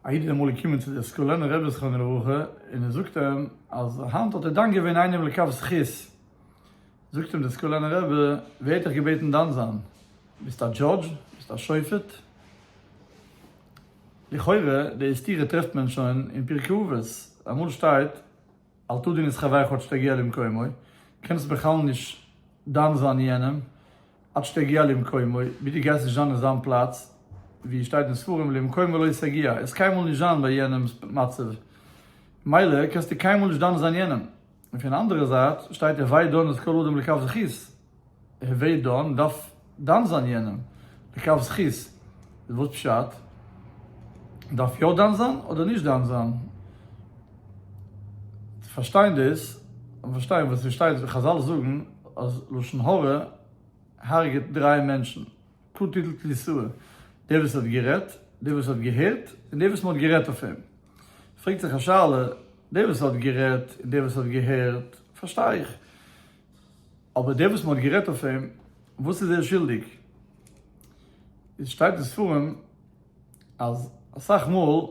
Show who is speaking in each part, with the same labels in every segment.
Speaker 1: א איד איז אמאל געקומען צו די סקולענע רבי זכרונו לברכה און ער זאגט אים אז היינט האט ער דן געווען איינעם לכף זכות, זאגט אים די סקולענע רבי ווער האט דיך געבעטן דן זיין? ביסט א דזשאדזש? ביסט א שופט? לכאורה די סתירה טרעפט מען שוין אין פרקי אבות, אמאל שטייט. אל תדין את חברך עד שתגיע למקומו, קענסט בכלל נישט דן זיין יענעם עד שתגיע למקומו, ביז דו גייסט נישט זיין אין זיין פלאץ, ווי שטייט אין ספרים למקומו לא תגיע, ער איז קיינמאל נישט זיין ביי יענעמ'ס מצב, מילא קענסטו קיינמאל נישט דן זיין יענעם, און פון אנדערע זייט שטייט ער וויי דן את כל אדם לכף זכות. ער ווערט דן, דארף דן זיין יענעם לכף זכות, וואס פשט? דארף יא דן זיין אדער נישט דן זיין? צו פארשטיין דאס, דארף מען פארשטיין וואס עס שטייט ווי חזל זאגן אז לשון הרע הרג'עט דריי מענטשן, כא תיתלת ליסוה, דער וואס האט גערעדט, דער וואס האט געהערט, און דער וואס מען האט גערעדט אויף אים. פרעגט זיך א שאלה, דער וואס האט גערעדט און דער וואס האט געהערט פארשטיי איך, אבער דער וואס מען האט גערעדט אויף אים, וואס איז ער שולדיג? איז שטייט אין ספרים אז אסאך מאל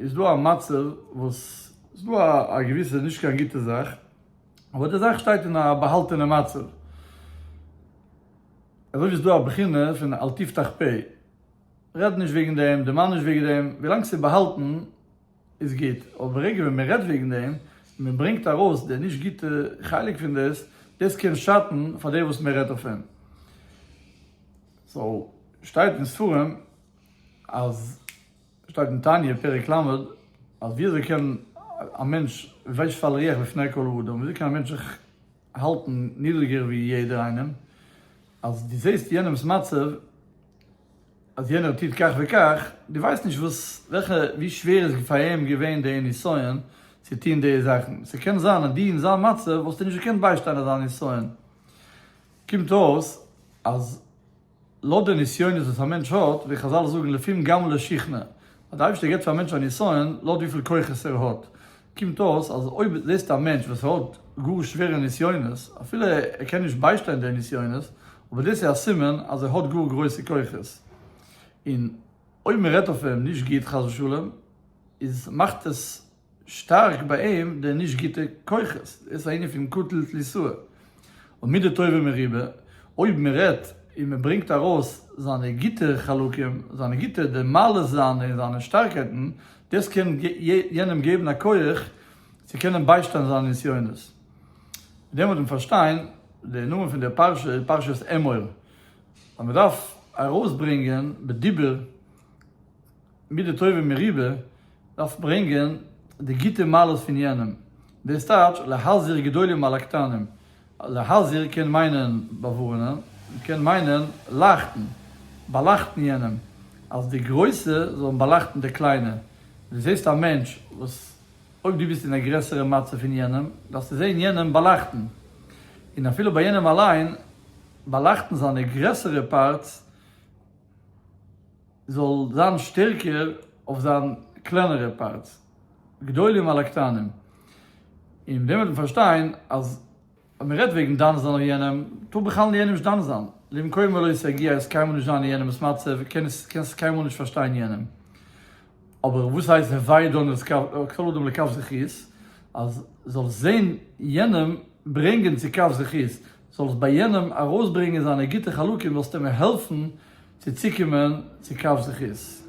Speaker 1: איז דא א מצב וואס איז דא א געוויסע נישט קיין גוטע זאך, אבער די זאך שטייט אין א באהאלטענע מצב, אזוי ווי ס'איז דא א בחינה פון אל תפתח פה, רעד נישט וועגן דעם, דערמאן נישט וועגן דעם, ווילאנג ס'איז באהאלטן, איז גוט, אבער ברגע ווען מען רעדט וועגן דעם, און מען ברענגט ארויס די נישט גוטע חלק פון דאס, דאס קען שאטן פאר דער וואס מען רעדט אויף אים. סאו, שטייט אין ספרים אז, שטייט אין תניא פרק ל', אז ווי אזוי קען א מענטש ויש פל ריח לפני כל האדם, ווי אזוי קען א מענטש זיך האלטן נידריגער ווי יעדער איינעם, אז דו זעסט יענעמ'ס מצב, אז יענער טוט כך וכך, דו ווייסט נישט וואס וועלכע ווי שווער איז פאר אים געווען די נסיון צו טון די זאכן, ס'קען זיין אז דו אין זיין מצב וואלסטו נישט געקענט ביישטיין אזא נסיון, קומט אויס אז לויט די נסיונות וואס א מענטש האט, ווי חזל זאגן לפום גמל לשכנע, אז די אייבערשטער געבט פאר א מענטש א נסיון לויט וויפיל כוחות ער האט, קומט אויס אז אויב זעסטו א מענטש וואס האט גאר שווערע נסיונות, אפילו ער קען נישט ביישטיין די נסיונות, אבער דאס איז א סימן אז ער האט גאר גרויסע כוחות, און אויב מען רעדט אויף אים נישט גוט חס ושלום, איז מאכט עס שטארק ביי אים די נישט גוטע כוחות, דאס איז א ענין פון קטלא תליסאא. און מידה טובה מרובה, אויב מען רעדט און מען ברענגט ארויס זיינע גוטע חלקים, זיינע גוטע די מעלות זיינע און זיינע שטארקייטן, דאס קען יענעם געבן א כח צו קענען ביישטיין זיינע נסיונות. מיט דעם וועט מען פארשטיין די נאמען פון די פרשה איז פרשת אמור, אז מען דארף ארויסברענגען בדיבור, מידה טובה מרובה, דארף ברענגען די גוטע מעלות פון יענעם, דאס טייטש להזהיר גדולים מעל הקטנים, להזהיר קען מיינען באווארענען, קען מיינען לייכטן, באלייכטן יענעם, אז די גרויסע זאלן באלייכטן די קליינע, דו זעסט א מענטש וואס אויב דו ביסט אין א גרעסערע מצב פון יענעם, דארפסטו זען יענעם באלייכטן, און אפילו ביי יענעם אליין באלייכטן זיינע גרעסערע פארטס, זאל זיין שטערקער אויף זיין קלענערע פארטס, גדולים על הקטנים, און מיט דעם וועט מען פארשטיין אז ווען מ'רעדט וועגן דן זיין אויף יענעם, טאר בכלל יענעם נישט דן זיין, למקומו לא יסגי הייסט קיינמאל נישט זיין אין יענעמ'ס מצב, קענסט קיינמאל נישט פארשטיין יענעם. אבער וואס הייסט הווי דן את כל אדם לכף זכות, אז זאלסט זען יענעם ברענגען צו כף זכות, זאלסט ביי יענעם ארויסברענגען זיינע גוטע חלקים וועסטו אים העלפן צו צוקומען צו קו זכות.